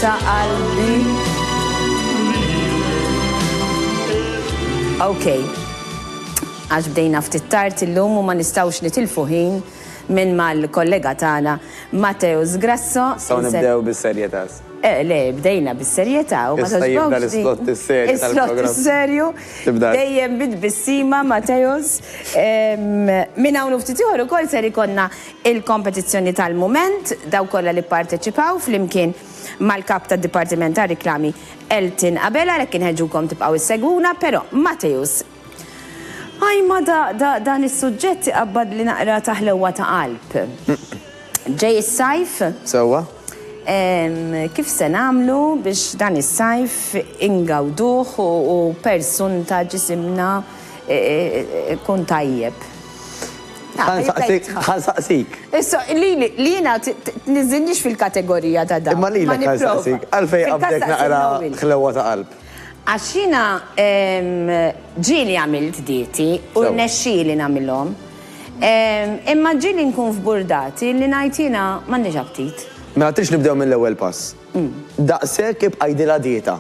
ta' qalbi. Ok, għax bdejna ftit tard illum u ma nistawx nitilfu ħin minn mal-kollega tagħna Matteo Zgrasso. Saw nibdew bis-serjetà. Eh, le, bdejna bis-serjetà u ma tibda l-slot is-serju. Is-slot is-serju. Dejjem bid bissima Mateos. Minn hawn ftit ieħor ukoll ser ikonna il-kompetizzjoni tal-mument, dawk kollha li pparteċipaw, flimkien mal-Kap tad-Dipartiment tar-Riklami Elton Abela, għalhekk inħeġġukom tibqgħu ssegwuna, però Matthews. Ajma da, da, dan is-suġġett iqabbadli naqra ta' ħlewwa ta' qalb. Ġej is-sajf. Sewwa. Kif se nagħmlu biex dan is-sajf ingawduh u per sunta ġisimna ikun tajjeb? Ħa nsaqsik. Issa, lili, li jiena tniżżilniex fil-kategorija ta' dan. Imma lilek ħa nsaqsik, għalfejn qabdek naqra ħlewwa ta' qalb? Għax jiena ġieli għamilt dieti u rnexxieli nagħmilhom. Imma ġieli nkun f'burdati li ngħid jiena m'għandix aptit. Mela tridx nibdew mill-ewwel pass. Daqshekk ibqa' għidilha dieta.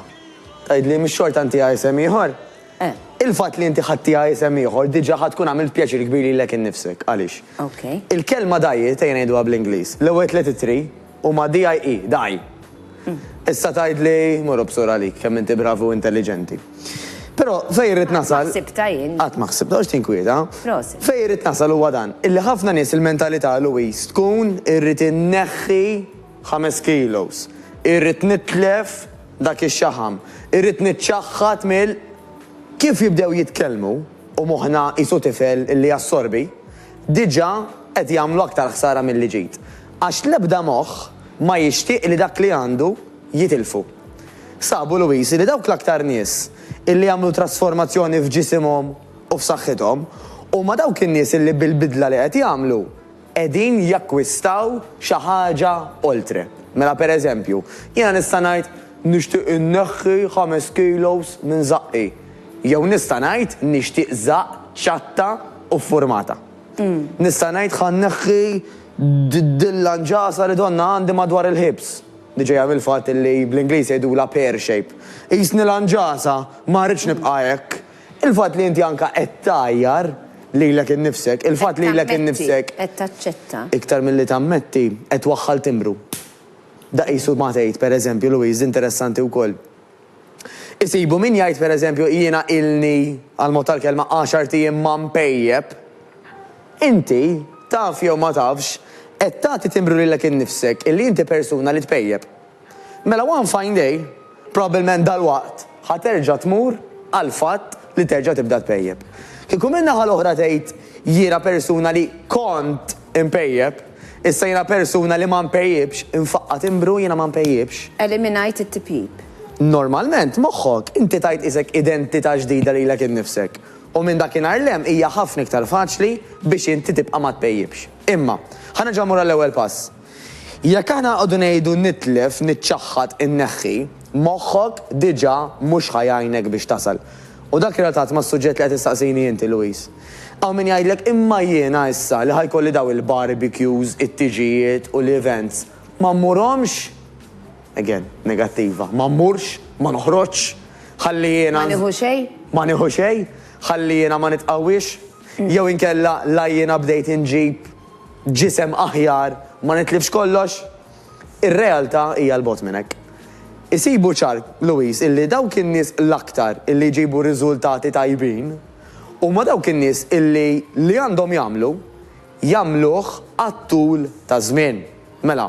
Tgħidli mhix xorta intiha isem ieħor? Eh. Il-fatt li inti ħadtiha isem ieħor diġà ħa tkun għamilt pjaċir kbir lilek innifsek. Għaliex? Ok. Il-kelma diet, ejja ngħiduha bl-Ingliż, l-ewwel tliet ittri huma DIE, die. Issa tgħidli, mur obsur għalik, kemm inti bravi u intelliġenti. Però fejn irrid nasal. Qatt ma ħsibtha jien. Qatt ma ħsibtha, għax tinkwieta. Prosit. Fejn irrid nasal huwa dan, illi ħafna nies il-mentalità Louise tkun irrid inneħħi Ħames kilos. Irrid nitlef dak ix-xaħam. Irrid niċċaħħad mill. Kif jibdew jitkellmu u moħħna qisu tifel li jassorbi, diġà qed jagħmlu aktar ħsara milli ġid. Għax l-ebda moħħ ma jixtieq li dak li għandu jitilfu. Sabu Louise li dawk l-aktar nies li jagħmlu trasformazzjoni f'ġisimhom u f'saħħithom huma dawk in-nies li bil-bidla li qed jagħmlu qegħdin jakkwistaw xi ħaġa oltre. Mela per eżempju, jiena nista' ngħid nixtieq inneħħi ħames kilos minn żaqqi. Jew nista' ngħid nixtieq żaqq ċatta u ffurmata. Nista' ngħid ħa nneħħi dilla nġasa li donnha għandi madwar il-ħibs, li ġejja mill-fatt li bl-Ingliż jgħidulha pear shape. Qisni la nġasa, ma rridx nibqa' hekk, Il-fatt li inti anke qed tgħajjar lilek innifsek, il-fatt li lilek innifsek, iktar milli tammetti, qed twaħħal timbru. Da qisu ma tgħid, pereżempju, Louise, interessanti wkoll. Isibu min jgħid, pereżempju, jiena ilni, għall-mod tal-kelma, għaxart ijiem ma npejjep. Inti, taf jew ma tafx, qed tagħti timbru lilek innifsek illi inti persuna li tpejjep. Mela one fine day, probabbilment dalwaqt, ħa terġa' tmur għall-fatt li terġa' tibda tpejjep. Kieku min-naħa l-oħra tgħid, Jiena persuna li kont inpejjep, issa jiena persuna li ma npejjipx, infaqqa' timbru jiena ma npejjipx. Eliminajt it-tipjip. Normalment, moħħok, inti tgħid qisek identità ġdida lilek innifsek, u minn dakinhar 'l hemm hija ħafna iktar faċli biex inti tibqa' ma tpejjipx. Imma, ħa nerġa' mmur għall-ewwel pass. Jekk aħna nqogħdu ngħidu nitlef, niċċaħħad, inneħħi, moħħok diġà mhux ħa jgħinek biex tasal. U dak relatat mas-suġġett li qed issaqsini inti, Louis. Hawn min jgħidlek imma jiena issa li ħa jkolli dawn il-barbecues, it-tiġijiet u l-events, ma mmurhomx? Again, negattiva. Ma mmurx? Ma noħroġx? Ħalli jiena. Ma nieħu xejn? Ma nieħu xejn? Ħalli jiena ma nitqawwiex? Jew inkella la jiena bdejt inġib. ġisem aħjar ma nitlifx kollox? Ir-realtà hija 'l bogħod minn hekk. Isibu ċar, Louise, illi dawk in-nies l-aktar illi jġibu riżultati tajbin huma dawk in-nies illi li għandhom jagħmlu, jagħmluh għat-tul taż-żmien. Mela.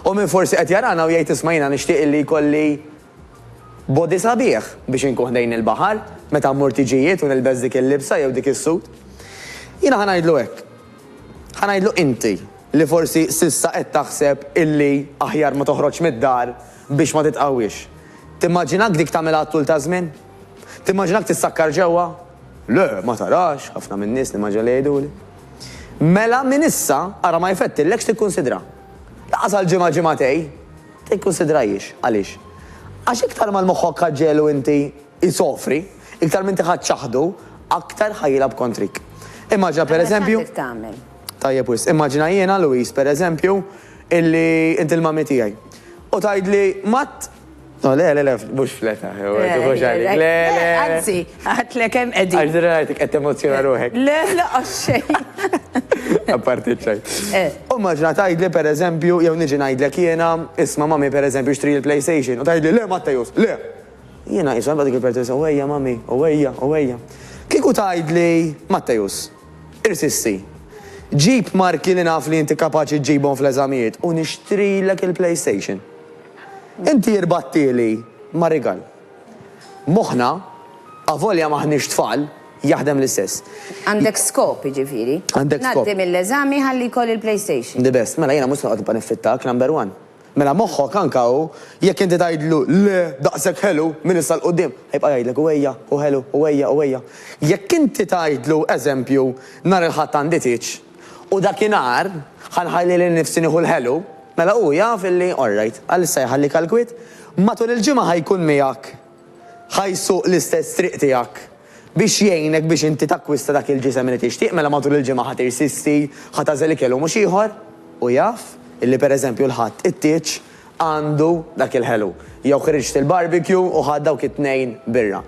U min forsi qed jarana u jgħid isma' jiena nixtieq illi jkolli. Body sabiħ biex inkun ħdejn il-baħar meta mmur tiġijiet u nilbes dik il-libsa jew dik is-suit. Jiena ħa ngħidlu hekk. Ħa ngħidlu inti li forsi s'issa qed taħseb illi aħjar ma toħroġx mid-dar biex ma titqawwiex. Timmaġinak dik tagħmilha għat-tul taż-żmien? Timmaġinak tissakkar ġewwa? Le, ma tarax, ħafna min-nies nimmaġina li jgħiduli. Mela minn issa ara ma jfettillekx tikkunsidra. Lanqas għal ġimgħa ġimgħatej. Tikkunsidrahiex. Għaliex? Għax iktar ma l-moħħok ħa ġegħlu inti isofri, iktar m'inti ħadt ċaħdu, aktar ħa jilgħab kontrik. Immaġina pereżempju. Allura x'għad trid tagħmel? Tajjeb wisq. Immaġina jiena, Louise, pereżempju, illi inti l-mummy tiegħi. U tgħidli, Matt, no le le le, mhux fl-età, tieħux għalik, le le. Anzi, Għidlek hemm qegħdin. Għax dira ngħidlek qed temozzjona ruħek. Le, laqas xejn. Apparti ċ-ċaj. Eh. U maġna tgħidli pereżempju jew niġi ngħidlek jiena, isma' mami pereżempju xtri l-PlayStation u tgħidli le Mattejus, le! Jiena qisha nibqa' dik il-pertesa u ejja mami, u ejja, u ejja. Kieku tgħidli Mattejus, irsisti. Ġib marki li naf li inti kapaċi ġġibhom fl-eżamijiet u nixtrilek il-PlayStation. Inti rbattieli ma' rigal. Moħħna, avolja m'aħniex tfal, jaħdem l-istess. Għandek skop, jiġifieri? Għandek skop. Ngħaddi mill-eżami ħalli jkolli l-PlayStation. The best. Mela jiena mhux se noqgħod nibqa' niffittak, number one. Mela moħħok anke hu, jekk inti tgħidlu le, daqshekk ħelu, minn issa 'l quddiem, ħajibqa' jgħidlek hu ejja, hu ħelu, hu ejja, hu ejja. Jekk inti tgħidlu, eżempju, nhar il-Ħadd għandi tieġ. U dakinhar, ħa nħalli lil nifsi nieħu l-ħelu. Mela hu jaf illi orrajt, għalissa jħallik għall-kwiet. Matul il-ġimgħa ħa jkun miegħek, ħa jsuq l-istess triq tiegħek biex jgħinek biex inti takkwista dak il-ġisem li tixtieq. Mela matul il-ġimgħa ħa tirsisti, ħa tagħżel ikel u mhux ieħor. Hu jaf illi pereżempju l-Ħadd it-tieġ għandu dak il-ħelu. Jew ħriġt il-barbecue u ħadt dawk it-tnejn birra.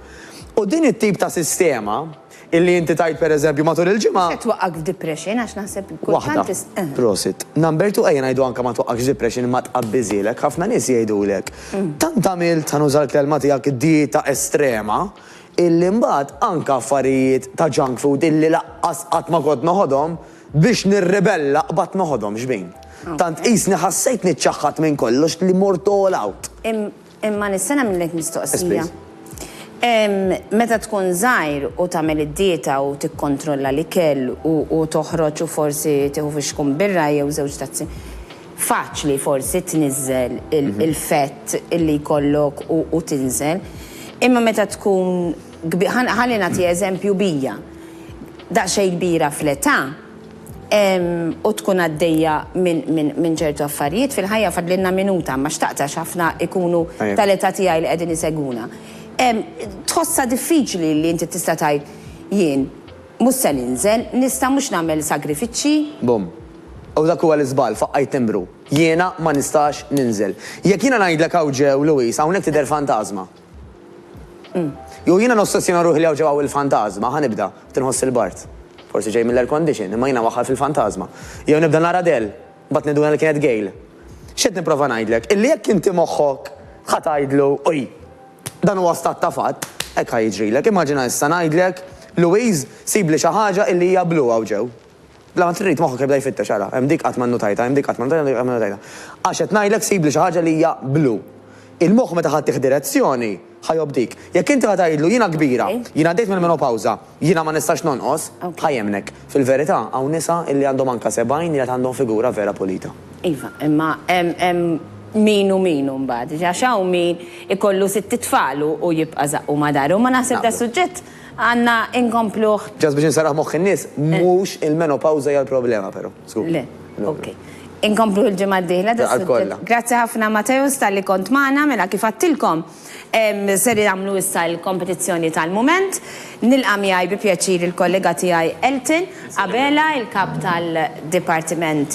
U din it-tip ta' sistema, Illi inti tgħid pereżempju matul il-ġimgħa. Se twaqqagħk f'depression għax naħseb kultant is. Waħda. Prosit. Number two ejja ngħidu anke ma twaqqagħkx f'depression imma tqabbiżilek. Ħafna nies jgħidulek, tant għamilt, ħa nuża l-kelma tiegħek, dieta estrema, illi mbagħad anke affarijiet ta' junk food illi laqqas qatt ma kont noħodhom, biex nirribella qbadt noħodhom xbin. Tant qisni ħassejtni ċċaħħadt minn kollox li mort all out. Imma nista' nagħmlilek mistoqsija. Meta tkun żgħir u tagħmel id-dieta u tikkontrolla l-ikel u toħroġ u forsi tieħu fixkun birra jew żewġ tazzi, faċli forsi tniżżel il-fett li jkollok u tinżel. Imma meta tkun, ħalli nagħti eżempju bija, daqsxejn kbira fl-età, u tkun għaddejja minn ċertu affarijiet fil-ħajja fadlilna minuta imma xtaqt għax ħafna jkunu tal-età tiegħi li qegħdin isegwuna. Tħossha diffiċli li inti tista' tgħid jien mhux se ninżel, nista' mhux nagħmel sagrifiċċji? Bum. U dak huwa l-iżball, faqqajt timbru. Jiena ma nistax ninżel. Jekk jiena ngħidlek hawn ġew, Louise, hawnhekk tidher fantażma. Jew jiena nossessjona ruħi li hawn ġew hawn il-fantażma, ħa nibda, qed inħoss il-bard. Forsi ġej mill-air condition, imma jiena waħħal fil-fantażma. Jew nibda nara Adele, mbagħad ninduna li kienet Gayle. X'qed nipprova ngħidlek? Illi jekk inti moħħok ħa tgħidlu, Oj, dan huwa stat ta' fatt, hekk ħa jiġrilek. Immaġina issa ngħidlek, Louise, sibli xi ħaġa illi hija blu hawn ġew. Bla ma trid, moħħok jibda jfittex, ara, hemm dik qatt ma nnutajtha, hemm dik qatt ma nnutajtha, hemm dik qatt ma nnutajtha. Għax qed ngħidlek sibli xi ħaġa li hija blu. Il-moħħ meta ħadd tieħ direzzjoni, ħa jobdik. Jekk inti ħa tgħidlu jiena kbira, jiena għaddejt mill-menopawża, jiena ma nistax nonqos, ħa jemmnek. Fil-verità, hawn nisa illi għandhom anke sebgħin li għad għandhom figura vera pulita. Iva, imma hemm min u min imbagħad. Għax hawn min ikollu sitt itfal u jibqa' żaqqu ma' daru. Ma naħseb da' suġġett. Għandna inkompluh. Just biex inserraħ moħħ in-nies, mhux il-menopawża hija l-problema però, żgur. Le, ok. Inkompluh il-ġimgħa d-dieħla dan is-suġġett. Grazzi ħafna Mateusz talli kont magħna, mela kif għedtilkom ser nagħmlu issa l-kompetizzjoni tal-mument. Nilqa' miegħi bi pjaċir il-kollega tiegħi Elton Abela, il-Kap tal-Dipartiment